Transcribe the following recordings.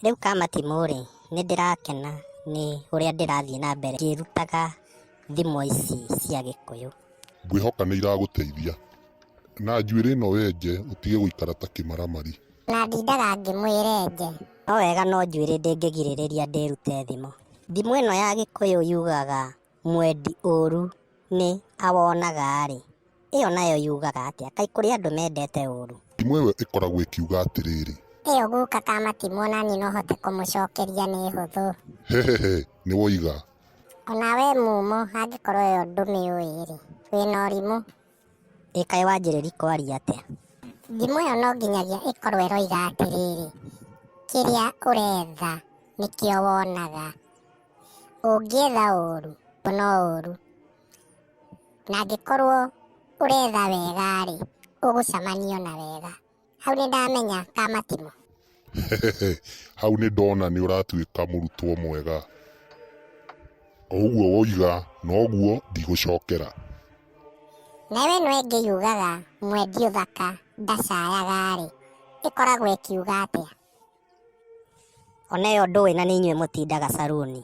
Rĩu kamatimũ rĩ, nĩ ndĩrakena nĩ ũrĩa ndĩrathiĩ na mbere ngĩrutaga thimo ici cia gĩkũyũ. Ngwĩhoka nĩ iragũteithia. Na njuĩrĩ ĩno wenje ũtige gũikara ta kĩmaramari. Na ndindaga ngĩmwĩra enje. No wega no njuĩrĩ ndĩngĩgirĩrĩria ndĩrute thimo. Thimo ĩno ya gĩkũyũ yugaga mwendi ũũru nĩ awonaga-rĩ, ĩyo nayo yugaga atĩa? Kaĩ kũrĩ andũ mendete ũũru? Thimo ĩyo ĩkoragwo ĩkiuga atĩrĩrĩ. Ĩyo guka ka matimũ o na niĩ no hote kũmũcokeria nĩ hũthũ. Hehehe, nĩ woiga. O na wee Mumo, angĩkorwo ĩyo ndũmĩũĩ-rĩ, wĩ na ũrimũ. Ĩ kaĩ wanjĩrĩri kwaria atĩa? Thimo ĩyo no nginyagia ĩkorwo ĩroiga atĩrĩrĩ, Kĩrĩa ũretha nĩkĩo wonaga. Ũngĩetha ũũru, ona ũũru, na angĩkorwo ũretha wega-rĩ, ũgũcamania na wega. Hau nĩ ndamenya ka matimũ. Hau nĩ ndona nĩ ũratuĩka mũrutwo mwega. O ũguo woiga, noguo ndigũcokera. Nayo ĩno ĩngĩ yugaga mwendia ũthaka ndacayaga-rĩ, ĩkoragwo ĩkiuga atĩa? Ona ĩyo ndũĩ na nĩ inyuĩ mũtindaga caruni.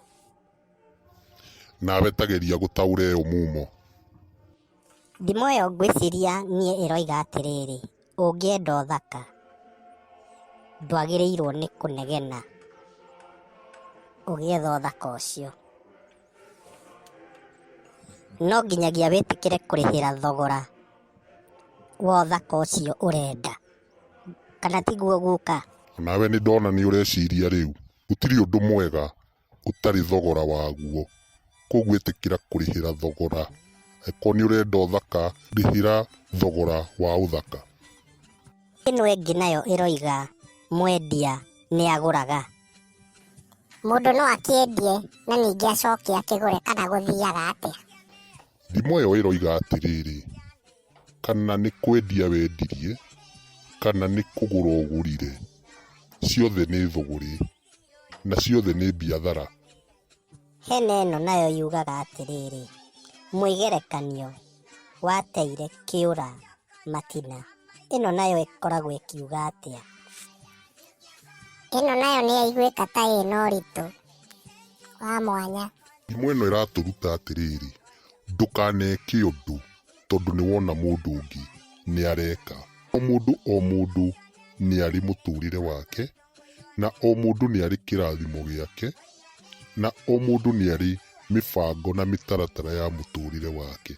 Nawe ta geria gũtaũra ĩyo mumo. Ndimũ ĩyo ngwĩciria niĩ ĩroiga atĩrĩrĩ, ũngĩenda ũthaka, ndwagĩrĩirwo nĩ kũnegena ũgĩetha ũthaka ũcio. No nginyagia wĩtĩkĩre kũrĩhĩra thogora wa ũthaka ũcio ũrenda. kana tiguo guka. Onawe nĩ ndona nĩ ũreciria rĩu. Gũtirĩ ũndũ mwega ũtarĩ thogora waguo, kwoguo ĩtĩkĩra kũrĩhĩra thogora. Angĩkorwo nĩ ũrenda ũthaka, rĩhĩra thogora wa ũthaka. Ĩno ĩngĩ nayo ĩroiga, Mwendia nĩ agũraga. Mũndũ no akĩendie na ningĩ acoke akĩgũre kana gũthiaga atĩa? Thimo ĩyo ĩroiga atĩrĩrĩ. Kana nĩ kwendia wendirie, kana nĩ kũgũra ũgũrire, ciothe nĩ thũgũrĩ, na ciothe nĩ mbiathara. Hena ĩno nayo yugaga atĩrĩrĩ, mwĩgerekanio wateire kĩũra matina. Ĩno nayo ĩkoragwo ĩkiuga atĩa? Ĩno nayo nĩ yaiguĩka ta ĩna ũritũ wa mwanya. Ndimũ ĩno ĩratũruta atĩrĩrĩ, ndũkaneke ũndũ tondũ nĩ wona mũndũ ũngĩ nĩ areka. O mũndũ o mũndũ nĩ arĩ mũtũrĩre wake, na o mũndũ nĩ arĩ kĩrathimo gĩake, na o mũndũ nĩ arĩ mĩbango na mĩtaratara ya mũtũrĩre wake.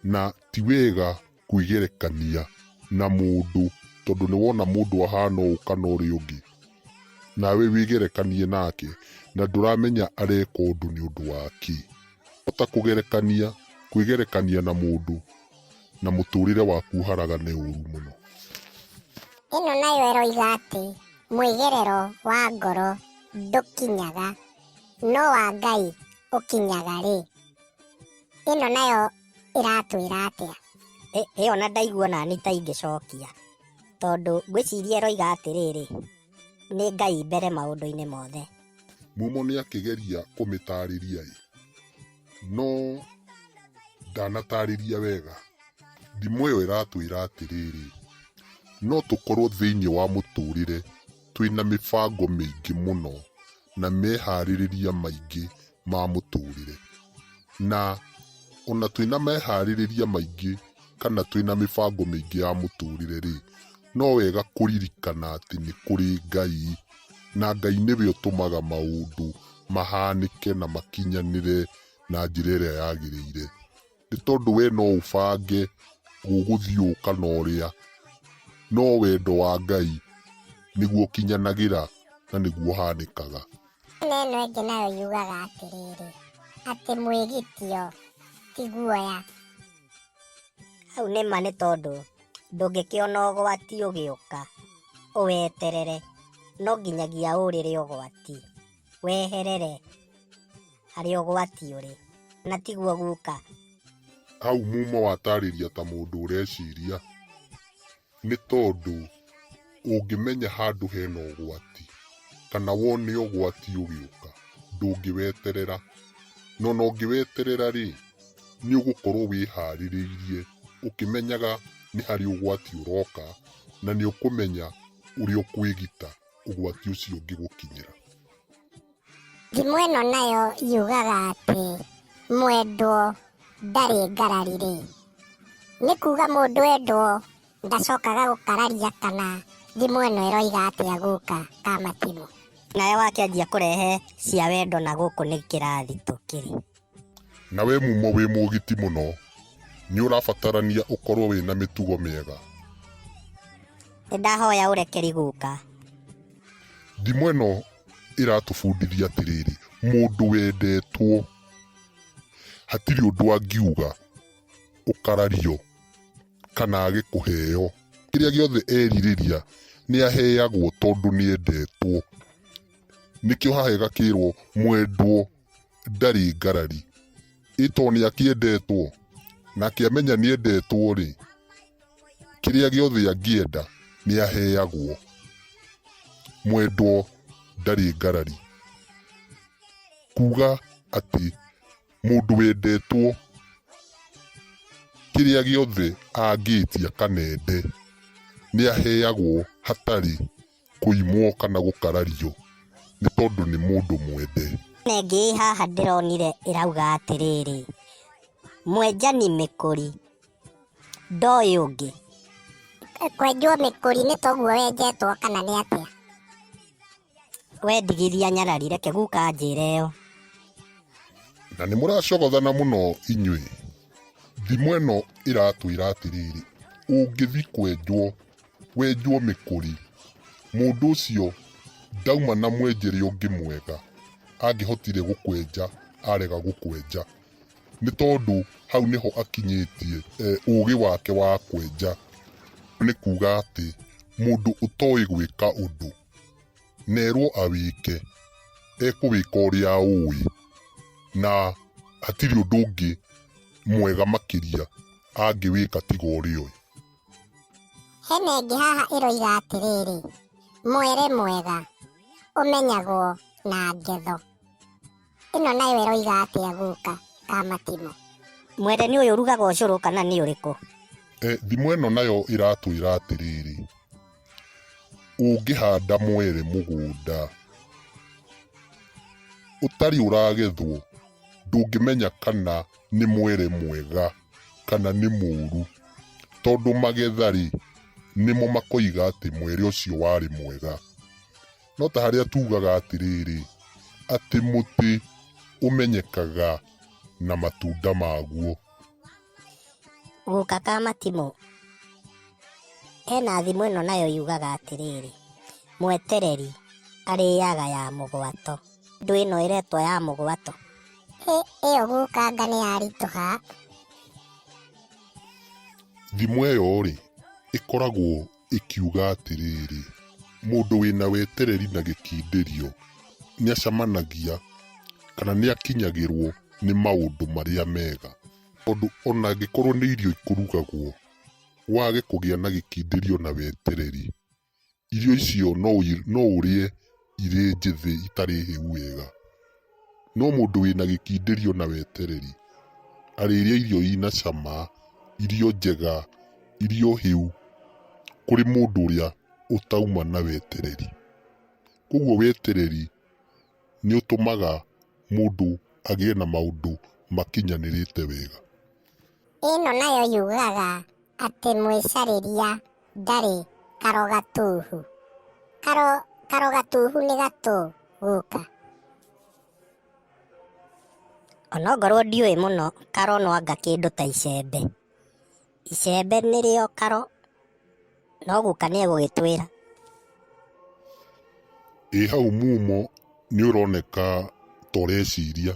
Na ti wega kwĩgerekania na mũndũ tondũ nĩ wona mũndũ ahana ũũ kana ũrĩa ũngĩ, nawe wĩgerekanie nake, na ndũramenya areka ũndũ nĩ ũndũ wa kĩ. Ota kũgerekania kwĩgerekania na mũndũ na mũtũũrĩre waku ũharagane ũũru mũno. Ĩno nayo ĩroiga atĩ mwĩgerero wa ngoro ndũkinyaga, no wa Ngai ũkinyaga rĩ. Ĩno nayo ĩratwĩra atĩa? Ĩ- ĩyo ona ndaigua nani ta ingĩcokia tondũ ngwĩciria ĩroiga atĩrĩrĩ nĩ Ngai mbere maũndũ-inĩ mothe. Mumo nĩ akĩgeria kũmĩtaarĩria-ĩ, no ndanatarĩria wega. Ndimũ ĩyo ĩratwĩra atĩrĩrĩ, no tũkorũo thĩinĩ wa mũtũũrĩre twĩ na mĩbango mĩingĩ mũno na meharĩrĩria maingĩ ma mũtũũrĩre. Na o na twĩ na meharĩrĩria maingĩ kana twĩ na mĩbango mĩingĩ ya mũtũũrĩre-rĩ, no wega kũririkana atĩ nĩ kũrĩ Ngai, na Ngai nĩwe ũtũmaga maũndũ mahanĩke na makinyanĩre na njĩra ĩrĩa yagĩrĩire. nĩ tondũ we no ũbange gũgũthiũka na ũrĩa no wendo wa Ngai nĩguo ũkinyanagĩra na nĩguo ũhanĩkaga. Nĩ ĩno ĩngĩ nayo yugaga atĩrĩrĩ, atĩ mwĩgitio ti guoya. Hau nĩ ma nĩ tondũ ndũngĩkĩona ũgwati ũgĩũka ũweterere, no nginyagia ũũrĩre ũgwati. weherere harĩ ũgwati ũrĩ, na tiguo guka. Hau Mumo atarĩria ta mũndũ ũreciria, nĩ tondũ ũngĩmenya handũ hena ũgwati, kana wone ũgwati ũgĩũka, ndũngĩweterera. Na ona ũngĩweterera rĩ, nĩ ũgũkorwo wĩharĩrĩirie ũkĩmenyaga nĩ harĩ ũgwati ũroka, na nĩ ũkũmenya ũrĩa ũkwĩgita. ũgwati ũcio ũngĩgũkinyĩra. Thimo ĩno nayo yugaga atĩ mwendwo ndarĩ ngarari rĩ, nĩ kuga mũndũ endwo ndacokaga gũkararia kana thimo ĩno ĩroiga atĩa guka ka matimũ. Nawe wakĩanjia kũrehe cia wendo na gũkũ nĩ kĩrathi tũkĩrĩ. Na we mumo wĩ mũgiti mũno, nĩ ũrabatarania ũkorũo wĩ na mĩtugo mĩega. Nĩ ndahoya ũrekeri guka. Ndimũ ĩno ĩratũbundithia atĩrĩrĩ, mũndũ wendetwo hatirĩ ũndũ angiuga ũkarario kana age kũheo. Kĩrĩa gĩothe erirĩria nĩ aheagwo tondũ nĩ endetwo. Nĩkĩo haha ĩgakĩrwo mwendwo ndarĩ ngarari. Ĩ to nĩakĩendetwo? Na akĩamenya nĩendetwo-rĩ, kĩrĩa gĩothe angĩenda nĩaheagwo. Mwendwo ndarĩ ngarari. Kuga atĩ mũndũ wendetwo kĩrĩa gĩothe angĩtia kana ende nĩaheagwo hatarĩ. Kũimwo kana gũkarario nĩ tondũ nĩ mũndũ mwende. Nengĩ ĩ haha ndĩronire ĩrauga atĩrĩrĩ, mwenjani mĩkũri ndoĩ ũngĩ. Kwenjwo mĩkũri nĩ toguo wenjetwo kana nĩ atĩa? We ndigithia nyarari reke guka anjĩre ĩyo. Na nĩ mũracogothana mũno inyuĩ. Thimo ĩno ĩratwĩra atĩrĩrĩ, ũngĩthiĩ kwenjwo Wenjwo mĩkũri. Mũndũ ũcio ndauma na mwenjere ũngĩ mwega angĩhotire gũkwenja arega gũkwenja. Nĩ tondũ hau nĩho akinyĩtie ũgĩ wake wa kwenja. Nĩ kuga atĩ mũndũ ũtoĩ gwĩka ũndũ na erwo awĩke ekũwĩka ũrĩa aũĩ na hatirĩ ũndũ ũngĩ mwega makĩria angĩwĩka tiga ũrĩa oĩ. Hena ĩngĩ haha ĩroiga atĩrĩrĩ, mwere mwega ũmenyagwo na ngetho. Ĩno nayo ĩroiga atĩa guka Kamatimũ? Mwere nĩ ũyũ ũrugaga ũcũrũ kana nĩ ũrĩkũ? E, thimo ĩno nayo ĩratwĩra atĩrĩrĩ, ũngĩhanda mwere mũgũnda ũtarĩ ũragethwo ndũngĩmenya kana nĩ mwere mwega. kana nĩ mũũru, tondũ magetha-rĩ, nĩmo makoiga atĩ mwere ũcio warĩ mwega. No ta harĩa tugaga atĩrĩrĩ, atĩ mũtĩ ũmenyekaga na matunda maguo. Guka ka matimũ, hena thimo ĩno nayo yugaga atĩrĩrĩ, mwetereri arĩaga ya mũgwato. Ndũĩ ĩno ĩretwo ya mũgwato? ĩyo gũkanga nĩ yaritũha. Thimo ĩyo-rĩ, ĩkoragwo ĩkiuga atĩrĩrĩ, mũndũ wĩna wetereri na gĩkindĩrio nĩacamanagia kana nĩakinyagĩrwo nĩ maũndũ marĩa mega. Tondũ ona angĩkorwo nĩ irio ikũrugagwo, wage kũgĩa na gĩkindĩrio na wetereri, irio icio no ũi- no ũrĩe irĩ njĩthĩ itarĩ hĩu wega no mũndũ wĩna gĩkindĩrio na wetereri arĩrĩa irio ina cama irio njega irio hĩu kũrĩ mũndũ ũrĩa ũtauma na wetereri koguo wetereri nĩ ũtũmaga mũndũ agĩe na maũndũ makinyanĩrĩte wega. Ĩno nayo yugaga atĩ mwĩcarĩria ndarĩ karogatuhu. Karo, karogatuhu nĩ gatũ gũka. Onokorwo ndiũĩ mũno karo no anga kĩndũ ta icembe. Icembe nĩrĩo karo, no guka nĩ egũgĩtwĩra. Ĩ hau mumo nĩ ũroneka ta ũreciria.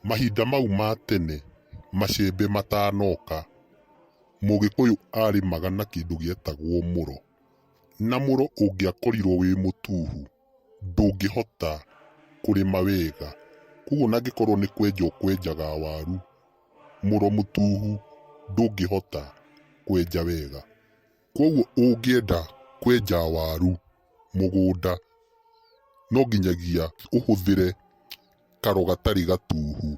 Mahinda mau ma tene macembe matanoka, Mũgĩkũyũ aarĩmaga na kĩndũ gĩetagwo mũro. Na mũro ũngĩakorirwo wĩ mũtuhu, ndũngĩhota kũrĩma wega. Kwoguo ona angĩkorwo nĩ kwenja ũkwenjaga waru, mũro mũtuhu ndũngĩhota kwenja wega. Kwoguo ũngĩenda kwenja waru mũgũnda no nginyagia ũhũthĩre karo gatarĩ gatuhu.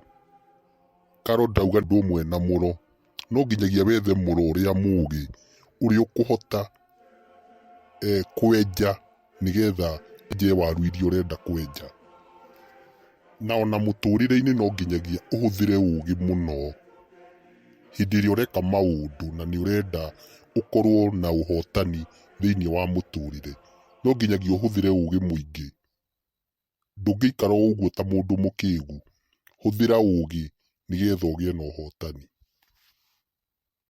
Karo ndauga ũndũ ũmwe na mũro, no nginyagia wethe mũro ũrĩa mũgĩ ũrĩa ũkũhota kwenja. nĩgetha enje waru iria ũrenda kwenja. Na ona mũtũrĩre-inĩ no nginyagia ũhũthĩre ũgĩ mũno hĩndĩ ĩrĩa ũreka maũndũ na nĩ ũrenda ũkorwo na ũhotani thĩiniĩ wa mũtũrĩre. No nginyagia ũhũthĩre ũgĩ mũingĩ. Ndũngĩikara o ũguo ta mũndũ mũkĩgu. Hũthĩra ũgĩ nĩgetha ũgĩe na ũhotani.